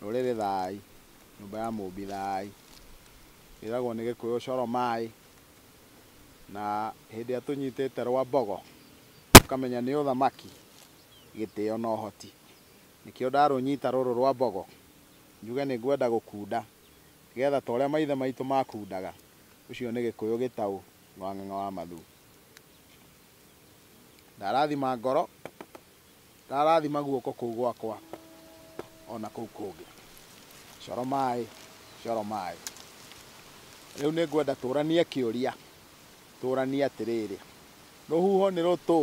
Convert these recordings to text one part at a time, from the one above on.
Rũrĩrĩ thaai, nyũmba ya Mũũmbi thaai, ĩragwo nĩ Gĩkũyũ coro maai, na hĩndĩ ĩrĩa tũnyitĩte rwa mbogo, tũkamenya nĩ ũthamaki, gĩtĩo na ũhoti. Nĩkĩo ndarũnyita rũrũ rwa mbogo, njuge nĩ ngwenda gũkunda, nĩgetha ta ũrĩa maithe maitũ makundaga, ũcio nĩ Gĩkũyũ gĩtaũ Ng'wang'ang'a wa Mathuu. Ndarathima ngoro. Ndarathima guoko kũu gwakwa o na kũu kũngĩ. Coro maĩ, coro maĩ. Rĩu nĩ ngwenda tũranie kĩũria, tũranie atĩrĩrĩ, rũhuho nĩ rũtũ?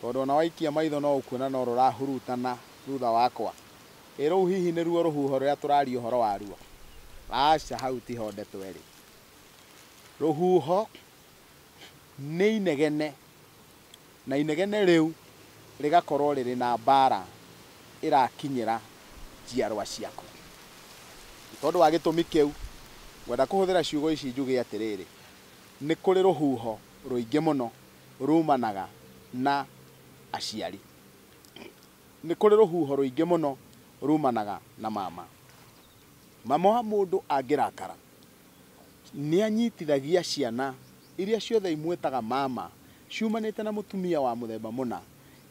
Tondũ o na waikia maitho no ũkuona no rũrahurutana thutha wakwa. Ĩ rũu hihi nĩ ruo rũhuho rũrĩa tũraria ũhoro waruo? Aca, hau ti ho ndeto ĩrĩ. Rũhuho nĩ inegene, na inegene rĩu rĩgakorwo rĩrĩ na mbaara ĩrakinyĩra njiarwa ciaku. Nĩ tondũ wa gĩtũmi kĩu, ngwenda kũhũthĩra ciugo ici njuge atĩrĩrĩ, nĩ kũrĩ rũhuho rũingĩ mũno ruumanaga na aciari. Nĩ kũrĩ rũhuho rũingĩ mũno ruumanaga na mama. Mama wa mũndũ angĩrakara, nĩanyitithagia ciana iria ciothe imwĩtaga mama ciumanĩte na mũtumia wa mũthemba mũna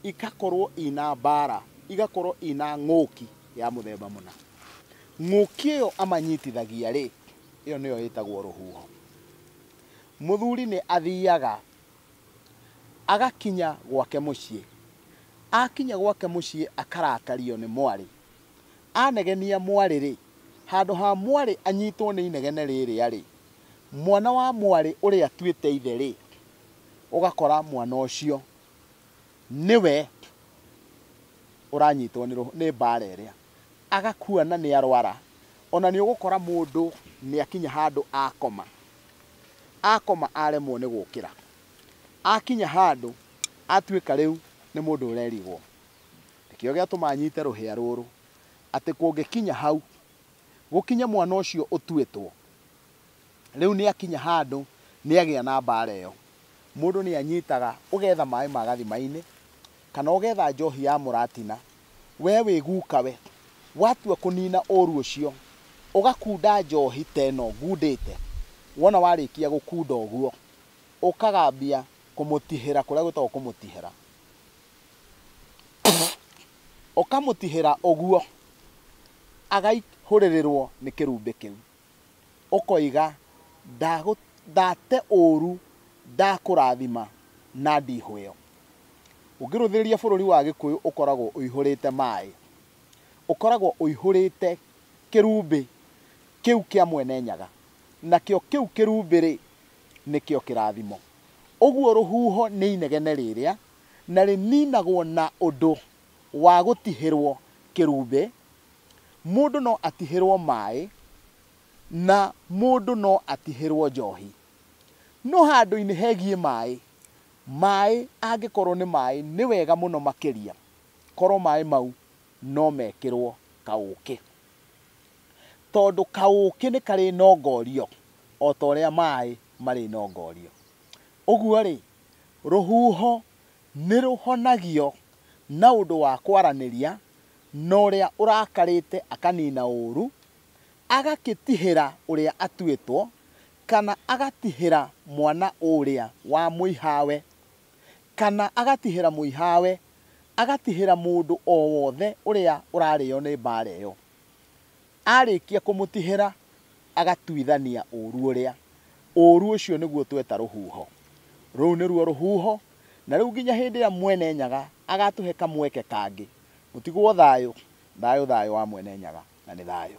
igakorwo ina mbaara, igakorwo ina ng'ũki ya mũthemba mũna. Ng'ũki ĩyo amanyitithagia rĩ, ĩyo nĩyo ĩtagwo rũhuho. Mũthuri nĩ athiaga agakinya gwake mũciĩ, akinya gwake mũciĩ akarakario nĩ mwarĩ Anegenia mwarĩ-rĩ, handũ ha mwarĩ anyitwo nĩ inegene rĩrĩa-rĩ, mwana wa mwarĩ ũrĩa atuĩte ithe-rĩ, ũgakora mwana ũcio nĩwe ũranyitwo nĩ mbara ĩrĩa, agakua na nĩarwara. O na nĩũgũkora mũndũ nĩakinya handũ akoma, akoma aremwo nĩ gũkĩra, akinya handũ atuĩka rĩu nĩ mũndũ ũrerigwo. Nĩkĩo gĩatũma nyite rũhĩa rũrũ, atĩ kũngĩkinya hau, gũkinye mwana ũcio ũtuĩtwo, rĩu nĩakinya handũ nĩagĩa na mbaara ĩyo. Mũndũ nĩanyitaga, ũgetha maaĩ ma gathima-inĩ, kana ũgetha njoohi ya mũratina, wee wĩ guka we, watua kũnina ũũru ũcio, ũgakunda njoohi ta ĩno ngundĩte, wona warĩkia gũkunda ũguo, ũkagambia kũmũtihĩra kũrĩa gwĩtagwo kũmũtihĩra. Ũkamũtihĩra ũguo, agaihũrĩrĩrwo nĩ kĩrumbĩ kĩu. Ũkoiga, Ndate ũũru, ndakũrathima na ndihũĩo. Ũngĩrũthĩrĩria bũrũri wa Gĩkũyũ ũkoragwo ũihũrĩte maĩ. Ũkoragwo ũihũrĩte kĩrumbĩ kĩu kĩa Mwene Nyaga. Nakĩo kĩu kĩrumbĩ-rĩ, nĩkĩo kĩrathimo. Ũguo rũhuho nĩ inegene rĩrĩa na rĩniinagwo na ũndũ wa gũtihĩrwo kĩrumbĩ, mũndũ no atihĩrwo maaĩ, na mũndũ no atihĩrwo njoohi. No handũinĩ hegiĩ maaĩ, maaĩ angĩkorwo nĩ maaĩ nĩ wega mũno makĩria korwo maaĩ mau no mekĩrwo kaũũkĩ. Tondũ kaũũkĩ nĩ karĩnongoorio o ta ũrĩa maaĩ marĩnongoorio. Ũguo-rĩ, Rũhuho nĩ rũhonagio na ũndũ wa kwaranĩria na ũrĩa ũrakarĩte akaniina ũũru, agakĩtihĩra ũrĩa atuĩtwo, kana agatihĩra mwana ũũrĩa wa mũihawe, kana agatihĩra mũihawe, agatihĩra mũndũ o wothe ũrĩa ũrarĩo nĩ mbaara ĩyo. Aarĩkia kũmũtihĩra agatuithania ũũru ũrĩa. Ũũru ũcio nĩguo tweta rũhuho. Rũu nĩruo rũhuho, na rĩu nginya hĩndĩ ĩrĩa Mwene Nyaga agaatũhe kamweke kangĩ, mũtigwo thayũ, thayũ, thayũ wa Mwene Nyaga, na nĩ thayũ.